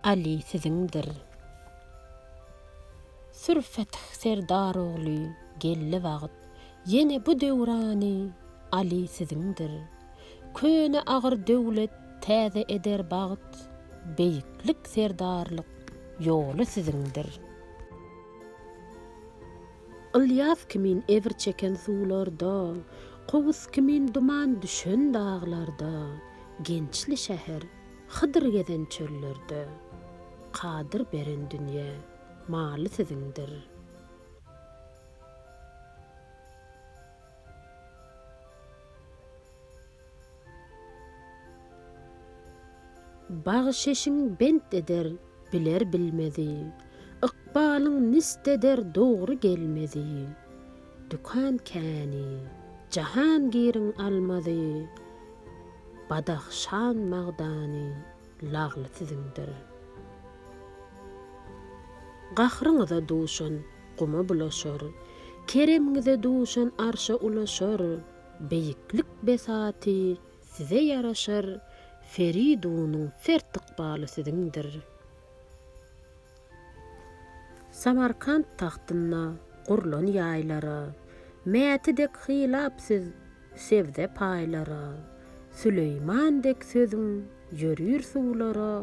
Aly siziňdir. Sür Fetih Serdar ogly geldi wagt, Ýene bu döwrany Aly siziňdir. Köne agyr döwlet täze eder bagt, Beýiklik serdarlyk ýoly siziňdir. Ylýas kimin ebir çeken suwlarda, Kowus kimin duman düşen daglarda, Gençli şäher Hydyr gezen çöllerde, Kadyr beren dünýe maly siziňdir. Bagşeşiň bent eder biler-bilmezi, Ykbalyň nist eder dogry gelmezi. Dükan käni, Jahangiriň almazy, Badahşan magdany, Lagly siziňdir. Gahryňyza duşan guma bulaşar, Keremiňize duşan arşa ulaşar, Beýiklik besaty size ýaraşar, Feridunyň fert ykbaly siziňdir. Samarkant tagtynda gurlan ýaýlara. Mäti dek hylap söz sebze paýlara. Süleýman dek sözüň ýörür suwlara.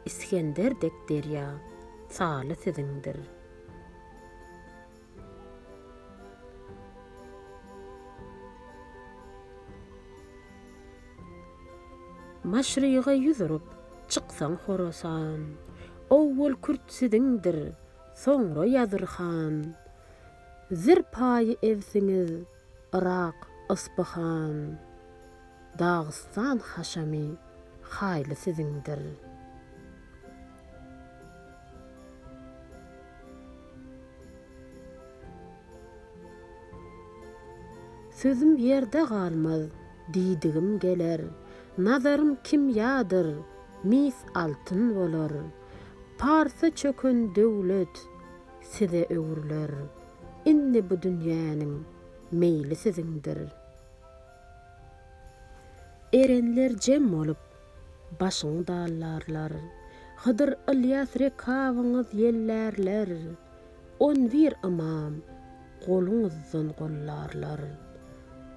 Isgender dek derýa saly siziňdir. Maşryga ýüz urup, çyksaň Horasan. Owwal kürt siziňdir, soňra ýazyr han. Zir paýy ebsiňiz, Yrak, Yspyhan, Dagystan haşamy haýly siziňdir. Sözüm ýerde galmaz, diýdigim geler, Nazarym kimýadyr, mis altyn bolar. Parsa çöken döwlet, size öwrüler. Indi bu dünýäniň meýli siziňdir. Erenler jem bolup, başyňy dallarlar. Hydyr Ylýas rekabyňyz ýellärler. On bir ymam goluňyzdan gollarlar.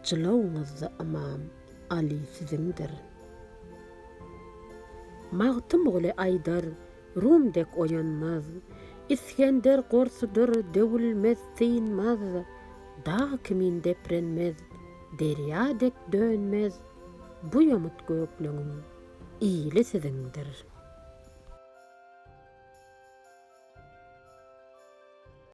Jylawyňyzda ymam Aly siziňdir. Magtymguly aýdar. Rum dek oýanmaz. Isgender gorsudyr döwülmez synmaz, Dag kimin deprenmez, derýa dek dönmez, Bu ýomut gökleňiň ili siziňdir.